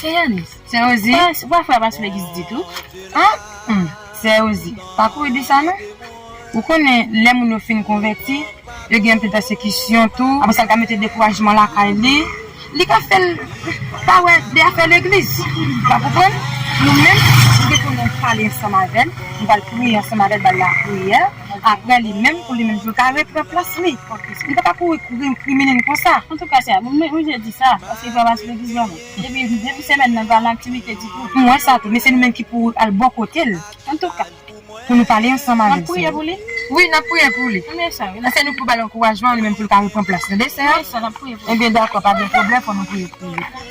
Se Yanis? Se Rosie? Ou pa fè pas legis ditou? An? Humm, se Rosie. Pa kouri di sa non. Ou konnen, lè moun yo fin konvèti, yo gen anpil pèsekisyon tou, apre sa l ka mete dekourajman lakay li, li ka fè l pa wè de afè legliz. Ou ka konprann? Nou menm, nou te konnen pale ansanm avè l, nou pral priye ansanm avè l, ba l lapriyè. Aprè li menm pou li menm si yo ta repran plas li li pa ta kouri kouri kriminen konsa. Antouka sa bon mwen oblije di sa paske li pa pase televizyon non depi depi semèn nan li pa nan aktivite ditou. M wè sa tou men se nou menm ki pou al bò kote l antouka pou nou pale ansanm avè l. Nap priye pou li? Wi nap priye pou li e se nou ki pou bal ankourajman li menm pou li ka repran plas li tande sè a ebyen dakò pa gen pwoblèm fò nou priye pou li.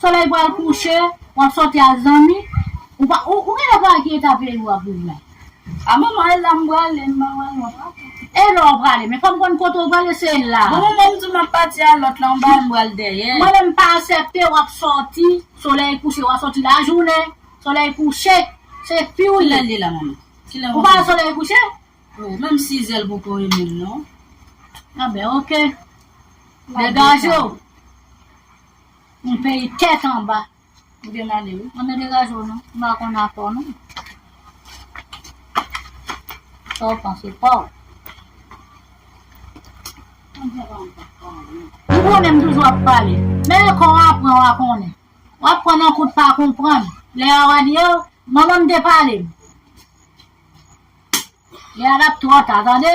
Solèy pral kouche, w ap sòti ak zanmi, ou pa ou genlè pa wè ki eta peyi w ap viv la. A manman e la m prale, m pa wè lò pa tou. E lò w prale, men fò m konn kote w prale se la. Bon manman m di w m ap pati a lòt la, m pa wè m pral dèyè. Mwen menm m pa asèpte w ap sòti, solèy kouche w a sòti lajounen, solèy kouche, se fi w ye. Kilè l ye la manman? Kilè w ap vini? Ou pa wè solèy kouche? Oh menm sizè l poko e menm non. A ben ok. Degaje w. Yon peyi tèt anba ou gen ale wi. Anmè degaje w non, m pa konn akò non. Sa w panse pa w. M konnen m toujou ap pale, men lè kò w apran wa konnen. W ap pran nan kout pa konprann. Lè a wa di oh, manman m te pale m. Lè a l ap twò ta tande.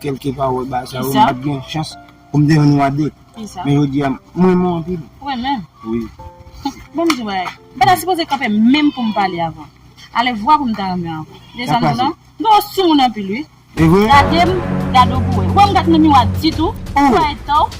Kelke pawol ba sa yo m pat gen chans pou m te jwenn yon ade men jodi a m renmen w anpil. Ou renmen m? Wi. Bon m di w bagay, m pa ta sipoze kanpe menm pou m pale avè w. Ale vwa pou m ta renmen w ankò. Gade sa m di w la? M twò soumoun anpil wi. Evre? Gade m, gade w pou w wè. Ou wè m pa t nan miwa ditou? Ou wè etan w?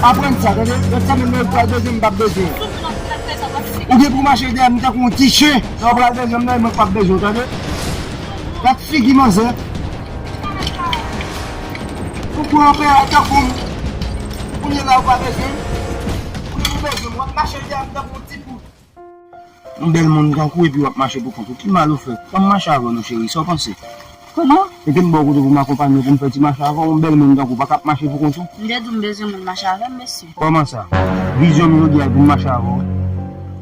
Pa pranm sa tande ret tande'm lè ou pral bezwen m pap bezwen w. Ou gen pou mache dèyè m tankou yon ti chen. Lè ou pral bezwen m nan e mwen k pap bezwen w tande. Gad figi manzè. Ou pran anpè a tankou m. Kounye la ou pa bezwen m. Ou gen pou bezwen m wap mache dèyè m tankou yon ti poul. Yon bèl moun tankou w epi wap mache pou kont ou ki mal ou fè? Fè m mache avè w non cheri, sa w panse? Kòman? Mete m bò kote pou m akonpanye w pou m fè ti mache avè w, yon bèl moun tankou w paka ap mache pou kont ou? M te di w m bezwen moun mache avè m mesye. Kòman sa? Vizyon m jodi a e pou m mache avè w wi.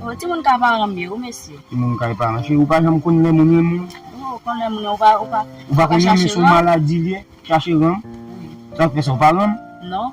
Oh, timoun kay paran m ye wi mesye. Timoun kay paran, cheri w pa janm konn lè moun renmen w. Wi ou konn lè moun renmen w, ou pa, ou pa, ou pa konn renmen se yon maladi l ye, chache renmen? Wi. Sa k fè sa, ou pa renmen? Non.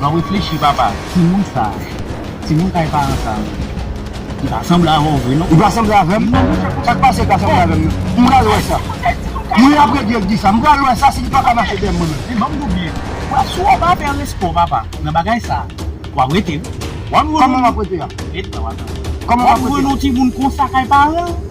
Nan reflechi papa timoun sa timoun kay paran sa li pa sanble avèw vre non. Li pa sanble avèm? Sak pase li pa sanble avèm nan? M pral wè sa. Mwen ap rete di sa. M pral wè sa si li paka mache dèyè mwen menm. Men banm double wa si w pa fè respè papa nan bagay sa wap rete wi. Koman map rete a? Ret la wap jwenn. Koman map rete? Wap jwenn yon timoun konsa kay paranl.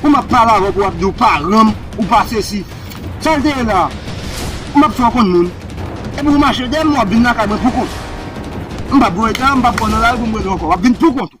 Pou map pale avèw pou wap di ou pa renmn ou pa sesi sal te ye la map fèw konn moun epi ou mache dèyèm wap vin lakay mwen pou kont ou mpap voye tan mpap pran nan lari poum rele w ankò wap vin pou kont ou.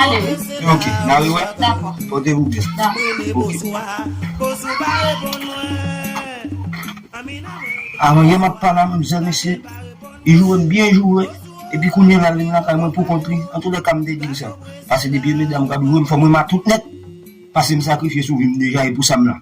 Ale wi. Ok na riwè. Dakò. Pote vou byen. Avan yè map pale a manmzèl mesye li joure m byen joure epi kounye la vin lakay mwen poukont li antoulèka m te di l sa pase depi medam kap joure m fòm remet tout nèt pasem sakrifye sou vi m deja e pou sa m la.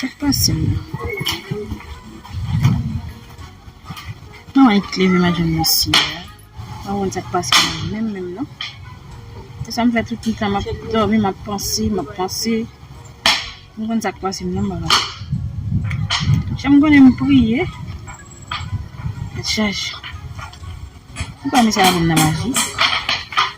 Sak pase menm. Mwen wè yon kleve madanm mesye a. Mwen wè sak pase menm menm menm non. Se sa m fè tout tan map domi map panse map panse. Mwen wè sak pase menm menm la. Chèm konnen m priye. Chèch. Mwen pa mè sa yon nan maji.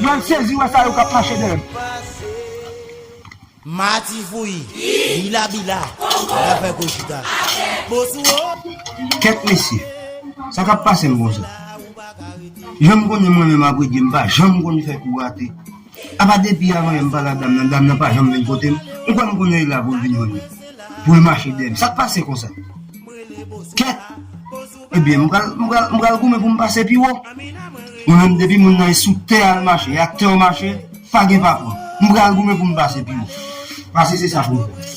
Mwen sezi wè sa yo kap mache dèyèm. Mati fouyi, bila bila, la fè gwo chita. Bon sou ou. Kèt mesye. Sa kap pasem konsa. Janm konnen mwen menm apre dye m pa janm konn fè kou rate. Apa depi avan yè m pale a dam nan, dam nan pa janm vin kote m. M kwè m konnen li la pou l vin jwenn mwen. Pou l mache dèyèm. Sak pase konsa. Kèt. Ebyen m pral m pral m pral goumen pou m pase pi wo Mwen menm depi moun nan e sou tè a l mache e ak tè w mache pa gen pa pran M pral goumen pou m pase pi wo Pase se sa pou m fè